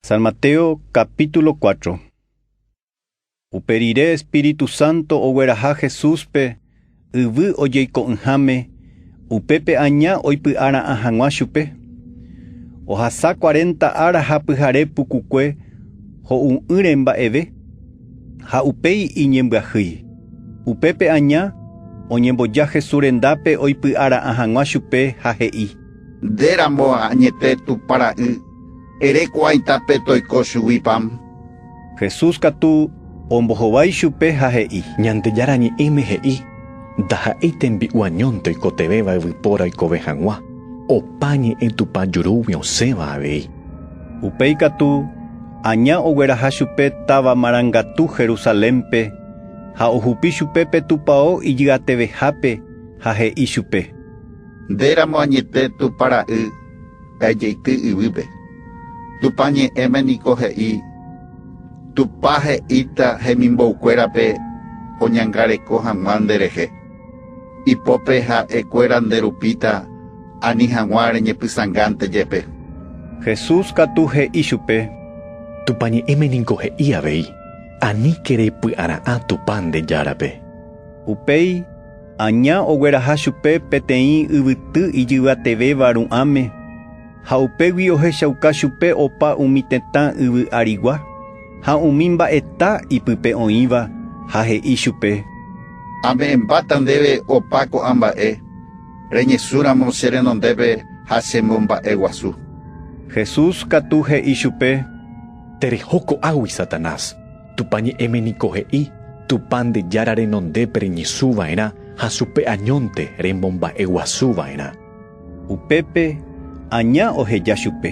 San Mateo capítulo 4 Upe rire Espíritu Santo ogueraha Jesúspe yvy ojeiko'ỹháme, upépe aña oipy'ara'ã hag̃ua chupe. Ohasa cuarenta ára ha pyhare pukukue ho'u'ỹre mba'eve, ha upéi iñembyahýi. Upépe aña oñemboja Jesús rendápe oipy'ara'ã hag̃ua chupe ha he'i. Nde ramo añete Tupã Ra'y. Ere ko'ãi tape toiko chugui pan. Jesús katu ombohovái chupe ha he'i. Ñandejára Ñe'ẽme he'i, Ndaha'éi tembi'u añónte oikotevẽva yvypóra oikove hag̃ua, opa ñe'ẽ Tupã jurúgui osẽva avei. Upéi katu, aña ogueraha chupe táva marangatu Jerusalénpe, ha ohupi chupe pe tupao ijy'atevehápe ha he'i chupe. Nde ramo añete Tupã Ra'y. Pejeity yvýpe. Tupã Ñe'ẽme niko he'i, Tupã he'íta hemimboukuérape oñangareko hag̃ua nderehe. Ipópe ha'ekuéra nde rupíta ani hag̃ua reñepysãngánte jepe. Jesús katu he'i chupe. Tupã Ñe'ẽme niko he'i avei, Aníke repy'ara'ã Tupã nde Járape. Upéi. Aña ogueraha chupe peteĩ yvyty ijyvatevéva ru'ãme, ha upégui ohechauka chupe opa umi tetã yvy arigua ha umi mba'eta ipype oĩva, ha he'i chupe: “Ame'ẽmbáta ndéve opa ko'ã mba'e, reñesũramo che renondépe ha che momba'eguasu”. Jesús katu he'i chupe: “Tereho ko'águi, Satanás! Tupã Ñe'ẽme niko he'i, Tupã nde Jára renondépe reñesũ va'erã ha chupe añónte remomba'e guasu va'erã. Upépe aña oheja chupe,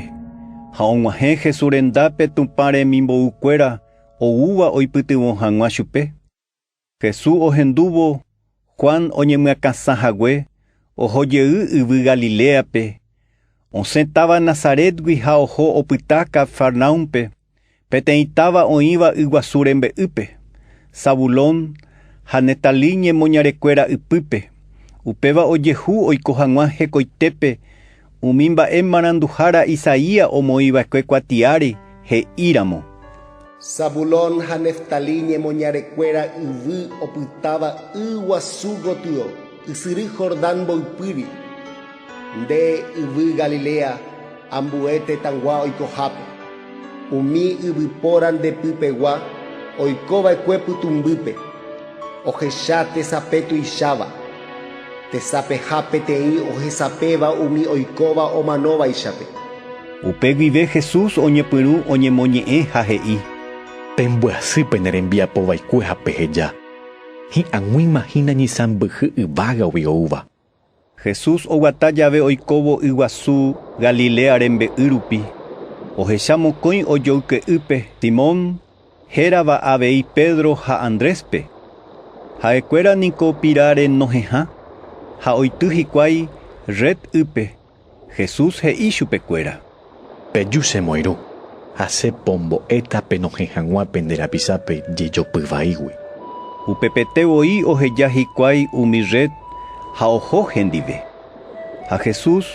ha og̃uahẽ Jesús rendápe Tupã remimbou kuéra oúva oipytyvõ hag̃ua chupe. Jesús ohendúvo Juan oñemyakãsã hague, oho jey yvy Galiléape, osẽ táva Nazarétgui ha oho opyta Cafarnaúmpe, peteĩ táva oĩva yguasu rembe'ýpe, Zabulón ha Neftalí ñemoñarekuéra ypýpe. Upéva ojehu oiko hag̃ua hekoitépe Umi mba'e maranduhára Isaías omoĩva'ekue kuatiáre he'íramo. Zabulón ha Neftalí ñemoñarekuéra yvy opytáva y guasu gotyo, ysyry Jordán mboypýri, nde yvy Galilea ambue tetãgua oikohápe, umi yvypóra nde pypegua oikova'ekue pytũmbýpe, ohecha tesape tuicháva. Tesapeha peteĩ ohesapéva umi oikóva omanovaichape. Upe guive Jesús oñepyrũ oñemoñe'ẽ ha he'i. Pembyasy pene rembiapo vaikue ha peheja, Hi'ag̃uíma hína ñisãmbyhy yvágagui oúva. Jesús oguata jave oikóvo yguasu Galilea rembe'y rupi, ohecha mokõi ojoyke'ýpe Simón Hérava avei Pedro ha Andréspe. Ha'ekuéra niko piráre nohehã, ha oity hikuái red ýpe. Jesús he'i chupekuéra. Peju che moirũ, ha che pombo'éta penohẽ hag̃ua pende rapichápe jejopy vaígui. Upepete voi oheja hikuái umi red ha oho hendive. Ha Jesús,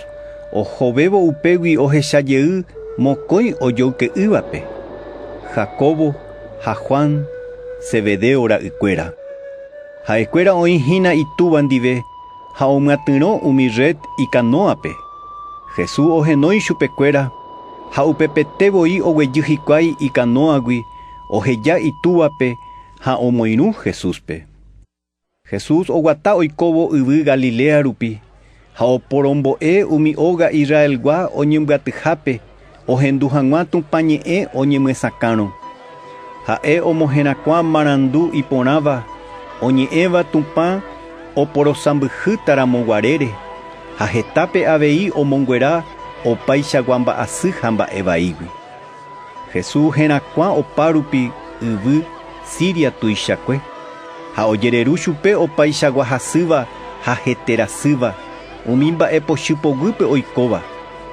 ohovévo upégui ohecha jey mokõi ojoyke'ỹvape, Jacobo ha Juan, Zebedeo ra'ykuéra. Ha'ekuéra oĩ hína itúva ndive ha omyatyrõ umi rred ikanóape. Jesús ohenói chupekuéra ha upepete voi oguejy hikuái ikanóagui oheja itúvape ha omoirũ Jesúspe. Jesús oguata oikóvo yvy Galilea rupi, ha oporombo'e umi óga Israelgua oñembyatyhápe ohendu hag̃ua Tupã ñe'ẽ oñemyesakãrõ. Ha'e omoherakuã marandu iporãva oñe'ẽva Tupã oporosãmbyhýta ramo guarére, ha hetápe avei omonguera opaichagua mba'asy ha mba'e vaígui. Jesús herakuã opárupi yvy Siria tuichakue, ha ojereru chupe opaichagua hasýva ha heterasýva, umi mba'e pochy poguýpe oikóva,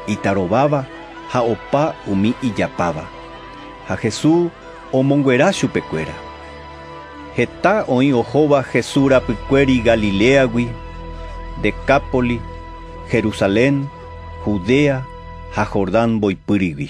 itarováva ha opa umi ijapáva. Ha Jesús omonguera chupekuéra. Heta oĩ ohóva Jesús rapykuéri Galiléagui, Decápoli, Jerusalén, Judea ha Jordán mboypýrigui.